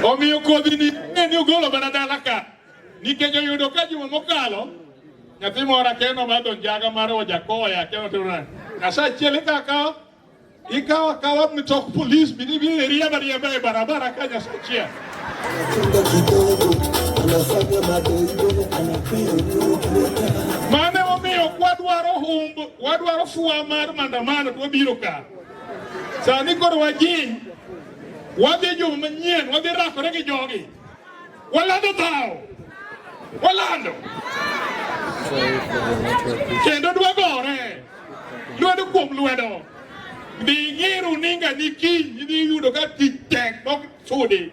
Omiyo kodhi ni ne ni ogolo mana dala ka nikech oyudo ka juma mokalo nyathi moro akeno madho njaga mar ojakoya akeno tona asachiel ikakawo ikawo akawa mitok polis bidhi bidhi riemba riemba e barabara ka nyasachiel Mane omiyo kwadwaro humb, wadwaro fuwa mar mandamano to wabiro ka. Sani koro wajiny, wadhi juma manyien, wadhi rakore gi jogi. Walando dhawo, walando kendo dwagore lwedo kuom lwedo. Dhi ng'iru ninga ni kiny idhi yudo ka tich tek. Sudi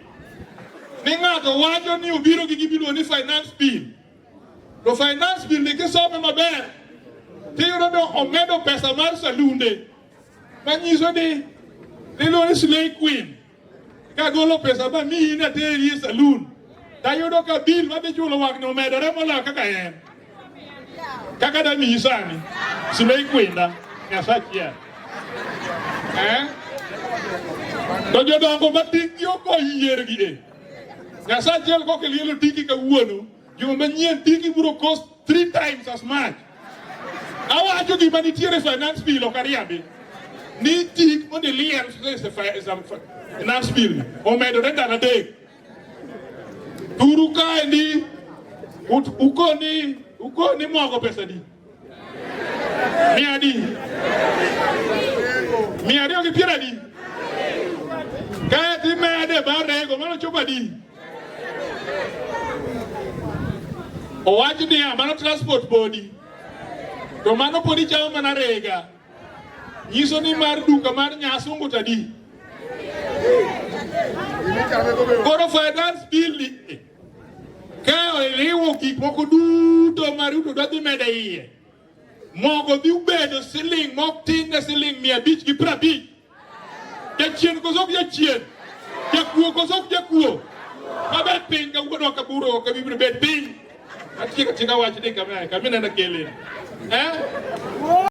ni ng'ato wacho ni obiro gi gimiluongo ni finance bill, to finance bill ni kisome maber tiyudo ni omedo pesa mar salunde manyiso ni niluongo ni slay queen kagolo pesa ma miyi nateri e salun tayudo ka bill madhi chulo wang' ni omedore moloyo kaka en kaka da mi isani simei kwenda nyasachiel eh? to jodongo matiggi ok oyiergi e nyasachiel koke lielo tiki kawuono juma manyien tiki biro cost three times as much awacho gima nitiere finance bill ok ariambi ni tik mondo iliel finance bill omedore ndalo adek Turu kae ndi ukoni ukoni mwago pesa di mia di mia ariyo gi piero adi kae dhi mede barego mano chopo adi owach niya mano transport bodi to mano podi chamo mana rega nyiso ni mar duka mar nyasungu tadi koro finance bill ni ka oriwo gik moko duto ma Ruto dwa dhi medo iye mogo dhi bedo siling mok tin ne siling mia abich gi piero abich jachien koso ok jachien jakuo koso ok jakuo maber piny kawuono kaburo kabibiro bet piny atieka tina wach ni kamina kamina na kele eh